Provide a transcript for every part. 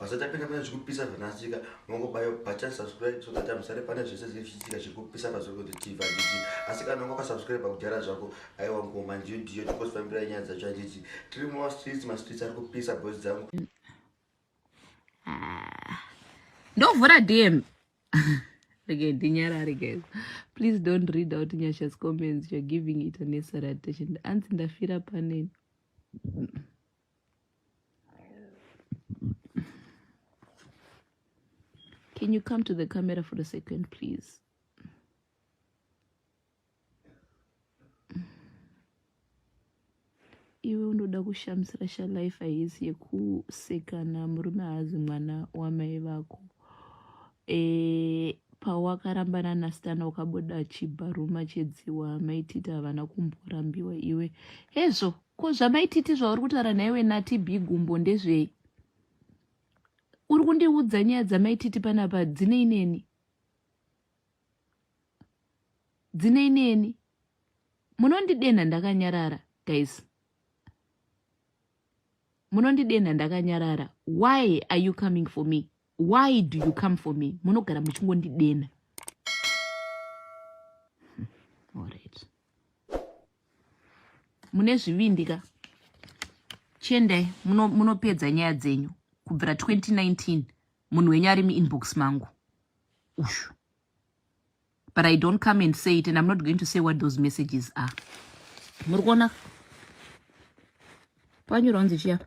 Basa tapinda pane zvekupisa zvanasika mongobayo button subscribe so that amusare pane zvese zvinenge zvichiitika zviri kupisa pazuva kuti tv handiti asi kana unga wakasubscribe kudhara zvako aiwa ngoma ndiyo ndiyo tikosifambirai nyaya dzacho handiti tiri mumastreets mastreets ari kupisa boys dzangu ah, ndovhura dm Okay, dinyarari guys please don't read out nyasha's comments you're giving it unnecessary attention anzi ndafira paneni Can you come to the camera for a second, please? iwe unoda kushamisira shalife haisi yekusekana murume haazi mwana wamai vako e, pawakarambana nasitana ukabuda chibharuma chedziwa maititi havana kumborambiwa iwe hezvo ko zvamaititi zvauri kutaura nhaiwe nati b gumbo ndezvei uri kundiudza nyaya dzamaititi panapa dzinei neni dzinei neni munondidenha ndakanyarara guys munondidenha ndakanyarara why are you coming for me why do you come for me munogara muchingondidena hmm, alright mune zvivindi ka chiendai munopedza muno nyaya dzenyu kubvira 2019 munhu wenyu ari muinbox mangu ushu but i don't come and say it and i'm not going to say what those messages are muri kuona panyorwa kunzi chiyapa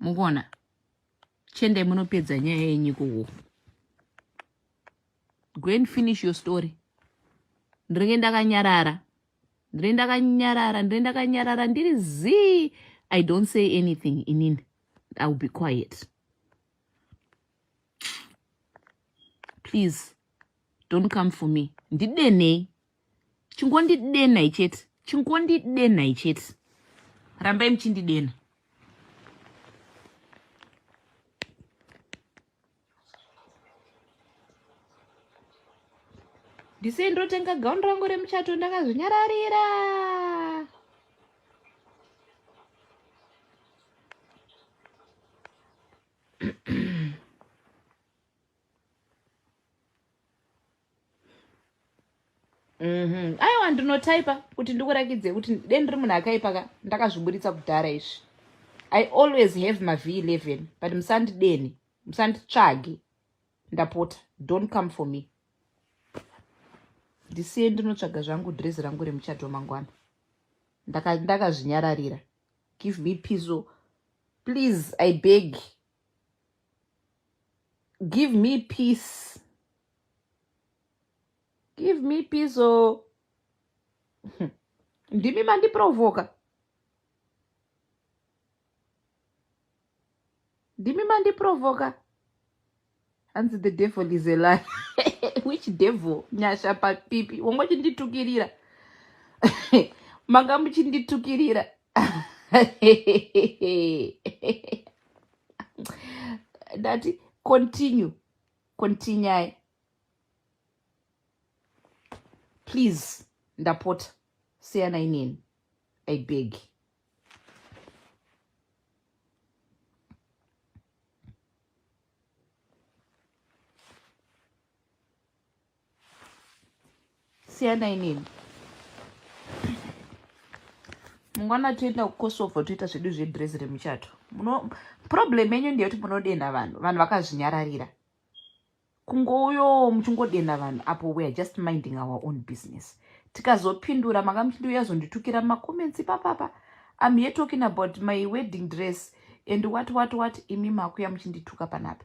mukuona chendai munopedza nyaya yenyu kuwo go and finish your story ndiringe ndakanyarara ndiri ndakanyarara ndiri ndakanyarara ndiri zii i don't say anything inini i will be quiet please don't come for me ndidenei chingondidenai chete chingondidenai chete rambai muchindidena ndisei ndotenga gauni rangu remuchato ndakazvinyararira Mhm. aiwa ndinotaipa kuti ndikurakidze kuti de ndiri munhu akaipa ka ndakazviburitsa kudhara izvi i always have mavh 11 but musandideni musanditsvage ndapota don't come for me ndisiye ndinotsvaga zvangu drezi rangu remuchato mangwana ndakazvinyararira ndaka give me piso please i beg give me peace give me peace or hmm. ndimi mandiprovoka ndimi mandiprovoka hanzi the devil is a lie which devil nyasha papipi wongotinditukirira manga muchinditukirira ndati continue continuai please ndapota siyana inini i beg siyanai neni mungwana toenda kukosovo toita zvedu zvedress remuchato problem yenyu ndeyekuti munodenha vanhu vanhu vakazvinyararira kungouyo muchingodenha vanhu apo weare just minding our own business tikazopindura manga muchindiuya zonditukira macomments ipapapa im here talking about my wedding dress and what what what imi makuya muchindituka panapa